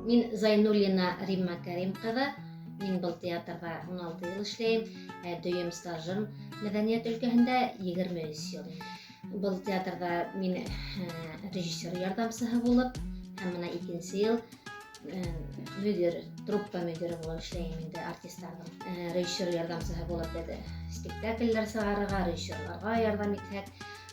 Мин Зайнуллина Римма Кәрим кызы. Мин был театрда 16 ел эшләйм. Ә дөем стажым мәдәният өлкәһендә 23 ел. Был театрда мин э, режиссер ярдәмчесе булып, һәм менә икенче ел э, мөдир, труппа мөдире булып эшләйм инде артистларның. Э, режиссер ярдәмчесе булып беде. Спектакльләр сарыга, режиссерларга ярдәм итәк.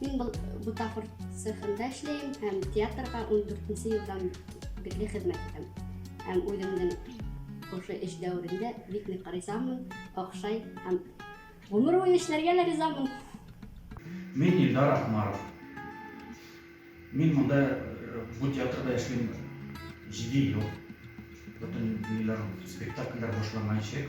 Мин был бутафор цехында эшләйм һәм театрга 14 елдан бирле хезмәт итәм. Һәм үземнең ошо эш дәверендә бик нык ризамын, охшай һәм гомер буе эшләргә лә ризамын. Мин Илдар Ахмаров. Мин монда э, бу театрда эшлим 7 ел. Бөтен ниләр спектакльләр башламаячак.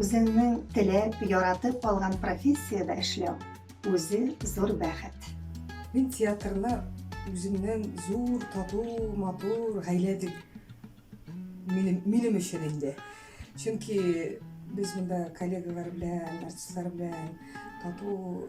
Үзеңнең теләп, яратып алган профессиядә эшләү үзе зур бәхет. Мин театрны үземнең зур, тату, матур гаилә дип минем, минем өчен инде. Чөнки без монда коллегалар белән, артистлар белән тату